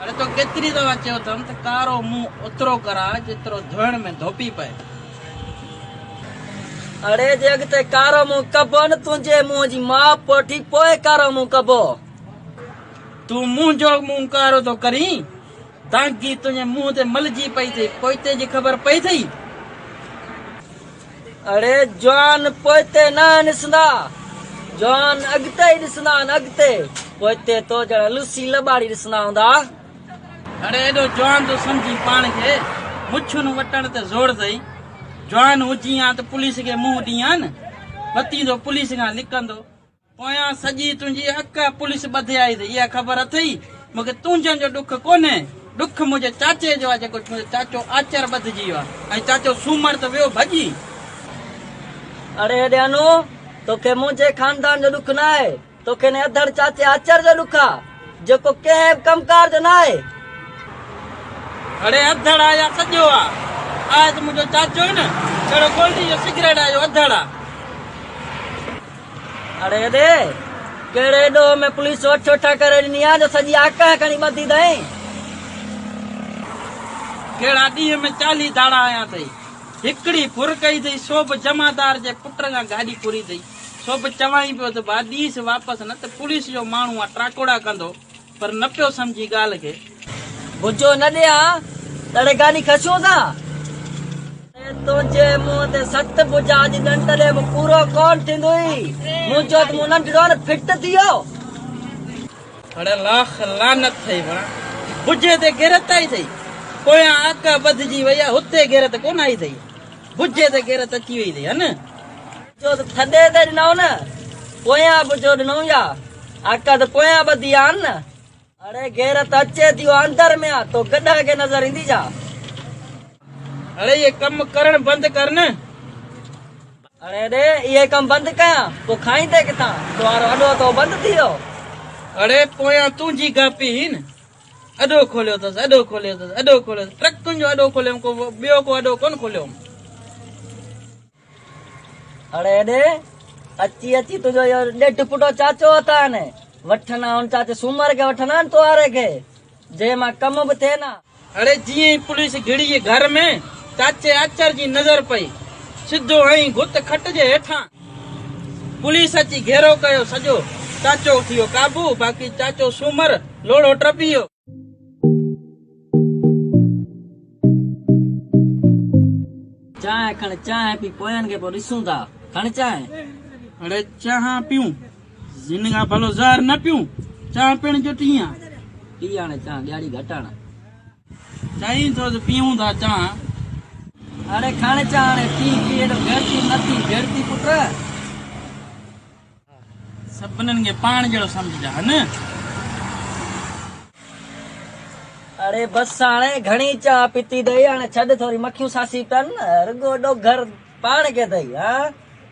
اڙي تو ڪيتري دفعا چيو اٿم ته ڪارو منهن اوترو ڪراء جيترو ڌوئڻ ۾ ڌوپي پئي. اڙي جي اڳتي ڪارو منهن ڪبو نه تنهنجي منهن جي ماء پوٺي پوء ڪارو منهن ڪبو. تون منهنجو منهن ڪارو ٿو ڪرين دانگي تنهنجي منهن تي ملجي پئي ٿئي پوئتي جي خبر پئي ٿئي. اڙي جوان پوئتي ناهن ڏسندا، جوان اڳتي ئي ڏسندا آهن اڳتي، پوئتي تو جهڙا لوسي لٻاڙي ڏسندا هوندا. اڙي ايڏو جوان ٿو سمجهين پاڻ کي، مڇون وٽڻ تي زور اٿئي، جوان هجين ها ته پوليس کي منهن ڏين ها نه، بتيندو پوليس کان لڪندو. پويان سڄي تنهنجي اڪ پوليس ٻڌي آئي تھ اها خبر اٿئي مون کي تنهنجن جو ڏک ڪونهي ڏک منهنجي چاچي جو آ جيڪو منهنجو چاچو آچر ٻڌجي ويو آ ۽ چاچو سومر تھ ويو ڀڄي. اڙي هيڏيانو توکي منهنجي خاندان جو ڏک ناهي توکي انهي اڌڙ چاچي آچر جو ڏک آ جيڪو ڪنهن بھ ڪم ڪار جو ناهي. اڙي اڌڙ آ يا سڄو آ آهي تھ منهنجو چاچو ئي نھ جھڙو گولڊي جو سگريٽ آ اهو اڌڙ آ. اڙي ڙي! ڪهڙي ڏوهه ۾ پوليس وٽ ٺوٺا ڪري ڏني آ جو سڄي آڪهه کڻي ٻڌي اٿئين؟ ڪهڙا ڏينهن ۾ چاليهه ڌاڙا آيا اٿئي؟ هڪڙي ڦر ڪئي اٿئي سو به جمعدار جي پٽ کان گاڏي ڪري اٿئي، سو به چوائين پيو ته ڀا ڏيس واپس نه ته پوليس جو ماڻهو آ ٽراڪوڙا ڪندو. پر نه پيو سمجهي ڳالهه کي. بجو نه ڏي آ تڙي گاڏي کسيون سان. ۽ تنهنجي منهن تي سٽ بجا جي ڏنڊ ڏي به پورو ڪون ٿيندوئي. مون چيو ته مون ننڍڙو نه فٽ ٿي ويو. هڙ لاک لعنت ٿئي وڙان بجي تي غيرت آئي ٿئي پويان اک ٻڌجي وئي آ هتي غيرت ڪون آئي ٿئي بجي تي غيرت اچي وئي ٿئي هن. جو ته ٿڏي تي ڏنائون نه، پويان به جو ڏنائون يا، آقا ته پويان ٻڌي آن نه. اڙي غيرت اچي ٿي او اندر ۾ آ، تو گڏهه کي نظر ايندي ڇا؟ اڙي اهي ڪم ڪرڻ بند ڪر نه. اڙي ڙي اهي ڪم بند ڪيان، پوء کائيندي ڪٿان؟ تو وارو اڏو تو بند ٿي ويو. اڙي پويان تنهنجي گاپي هئي نه، اڏو کوليو اٿس، اڏو کوليو اٿس، اڏو کوليو اٿس، ٽرڪن جو اڏو کوليو هئم، ڪو ٻيو ڪو اڏو ڪونه کوليو هئم. اڙي اڙي اچي اچي تنهنجو اهو ڏيڍ پٽو چاچو اتان وٺن ها ان چاچي سومر کي وٺن ها تهواري کي جنهن مان ڪم به ٿين ها. اڙي جيئن ئي پوليس گهڙي گهر ۾ چاچي آچر جي نظر پئي سڌو هنئي گت کٽ جي هيٺان پوليس اچي گهيرو ڪيو سڄو چاچو ٿي ويو قابو باقي چاچو سومر لوڙهو ٽپي ويو. چانهه کڻ چانهه پي پوين کي پو ڏسون ٿا کڻ چانهه. اڙي چانهه پيون زين کان ڀلو زهر نه پيون چانهه پيڻ جو ٽيهان. پي هاڻي چانهه ڏياڙي گهٽ هڻ. چئين ٿو ته پيئون ٿا چانهه. اڙي کڻ چانهه هاڻي پي پي ايڏو گهڙتي مٿي جهڙتي پٽ. سڀنن کي پاڻ جهڙو سمجهجان. اڙي بس هاڻي گهڻي چانهه پيتي اٿئي هاڻي ڇڏ ٿوري مکيون ساسي ڪن رڳو ڏوگهر پاڻ کي اٿئي ها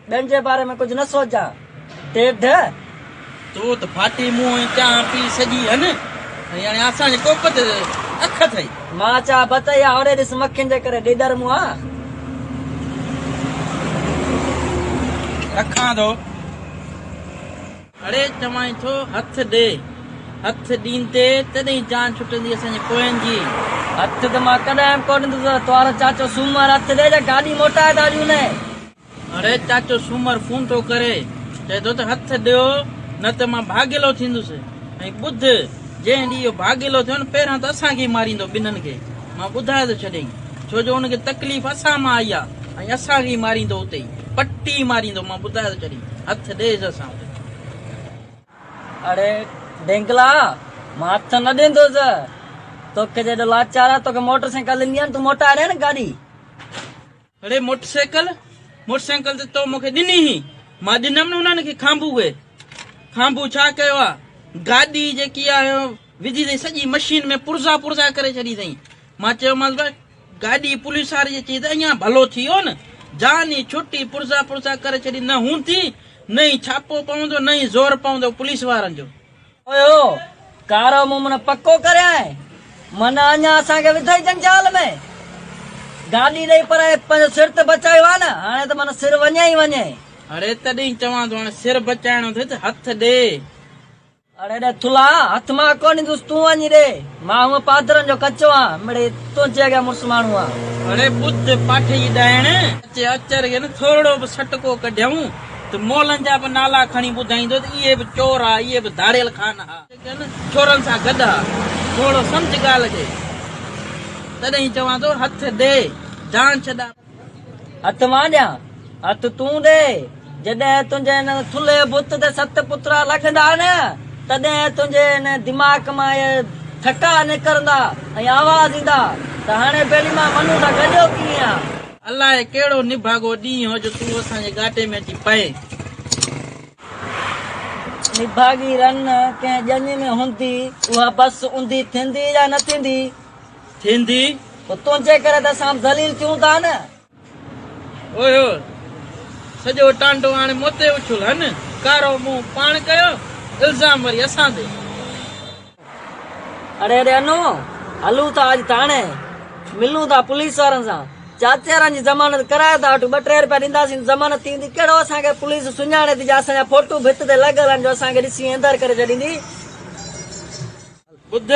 ٻين جي باري ۾ ڪجهه نه سوچان ٽيڍ. تو ته ڦاٽي منهن ۽ چانهه پي سڄي هن ۽ هاڻي اسان جي ڪوپ تي اک اٿئي. مان چا بت اهي هاڙهي ڏس مکين جي ڪري ڏيڏر مون آ. رکان ٿو. اڙي چوانء ٿو هٿ ڏي. هٿ ڏيندي تڏهين جان ڇٽندي اسان جي پوين جي. هٿ ته مان ڪڏهن به ڪو ڏيندس. توهارو چاچو سومر هٿ ڏي جا گاڏي موٽائي ٿا ڏيون. اڙي چاچو سومر فون ٿو ڪري، چئي ٿو ته هٿ ڏيو نه ته مان ڀاڳيلو ٿيندس ۽ ٻڌ جنهن ڏينهن اهو ڀاڳيلو ٿيو نه پهريان ته اسان کي ئي ماريندو ٻنهن کي مان ٻڌائي ٿو ڇڏيئي ڇو جو ان کي تڪليف اسان مان آئي آهي ۽ اسان کي ئي ماريندو اتي ئي پٽي ماريندو مان ٻڌائي ٿو ڇڏيئي هٿ ڏيس اسان وٽ. اڙي ڊينگلا مان هٿ نه ڏيندس توکي جيڏو لاچار آهي توکي موٽر سائيڪل ڏني آهي نه تون موٽائي ڏي نه گاڏي. اڙي موٽر سائيڪل موٽر سائيڪل ته تو مونکي ڏني هئي مان ڏنم نه انهن کي کانڀو اهي کانڀو ڇا ڪيو آ گاڏي جيڪي آ وڌي اٿئي سڄي مشين ۾ پرزا پرزا ڪري ڇڏي اٿئي مان چيومانس بھا گاڏي پوليس واري جي چئي ته اڃا ڀلو ٿي ويو نه جان ئي ڇٽي پرزا پرزا ڪري ڇڏي نه هوندي نه ئي ڇاپو پوندو نه ئي زور پوندو پوليس وارن جو اوهو! ڪارو مون من پڪو ڪريائين، من اڃا اسان کي وڌئي جنجال ۾، گاڏي ڏئي پر پنهنجو سر ته بچايو آ نه، هاڻي ته من سر وڃي ئي وڃي. اڙي تڏهين چوان ٿو هاڻي سر بچائڻو اٿئي ته هٿ ڏي. اڙي ڏي ٿلها، هٿ مان ڪونه ڏيندس تون وڃي ڏي، مان هونء پادرن جو ڪچو آهيان، مڙئي تنهنجي اڳيان مڙس ماڻهو آهيان. اڙي ٻڌ پاٺي جي ڏائڻ، اچي اچر کي نه ٿورڙو به سٽڪو ڪڍيائون، ته مئلن جا به نالا کڻي ٻڌائيندو ته اهي به چور ها، اهي به ڌاڙيل خان ها. جيڪن چورن سان گڏ ها. ٿورڙو سمجهه ڳالهه کي. تڏهن چوان ٿو هٿ ڏي، جان ڇڏان. هٿ مان ڏيان، هٿ تون ڏي. جڏهن تنهنجي ان ٿلهي بت تي ست پترا لڳندا نه، تڏهن تنهنجي ان دماغ مان اهي ٿڪا نڪرندا ۽ آواز ايندا ته هاڻي ڀيلي مان منون سان گڏيو ڪيئن ها. الاهي ڪهڙو نڀاڳو ڏينهن هو جو تون اسان جي ڳاٽي ۾ اچي پئين. نڀاڳي رن ڪنهن ڄڃ ۾ هوندي، اها بس اونڌي ٿيندي يا نه ٿيندي؟ ٿيندي. پوء تنهنجي ڪري ته اسان به ذليل ٿيون ٿا نه. هو هو. سڄو ٽانڊو آڻي مون تي اڇل. هن ڪارو منهن پاڻ ڪيو، الزام وري اسان تي. اڙي اڙي انو، هلون ٿا اڄ ٿاڻي، ملون ٿا پوليس وارن سان، چاچيارن جي ضمانت ڪرائي ٿا وٺون، ٻه ٽي روپيا ڏينداسين ته ضمانت ٿي ويندي، ڪهڙو اسان کي پوليس سڃاڻي ٿي جا اسان جا ڦوٽو ڀت تي لڳل آهن جو اسان کي ڏسي ايندر ڪري ڇڏيندي. ٻڌ،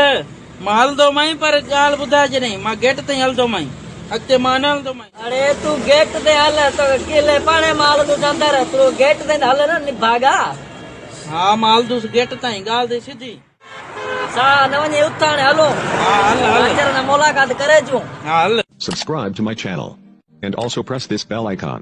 مان هلندومانء پر هڪ ڳالهه ٻڌاء جڏهن مان گيٽ تائين هلندومانء، اڳتي مان نه هلندومانء. اڙي تون گيٽ تي هل، توکي ڪلهي پاڻي مان هلندوس اندر، تون رڳو گيٽ تائين ته هل نه نڀاڳا. ها مالدوس گيٽ تائين ڳالهه ٿي سڌي. سا نه وڃي اٿ هاڻي هلو. ها هل هل. اچر ۾ ملاقات ڪري اچون. ها هل. Subscribe to my channel and also press this bell icon.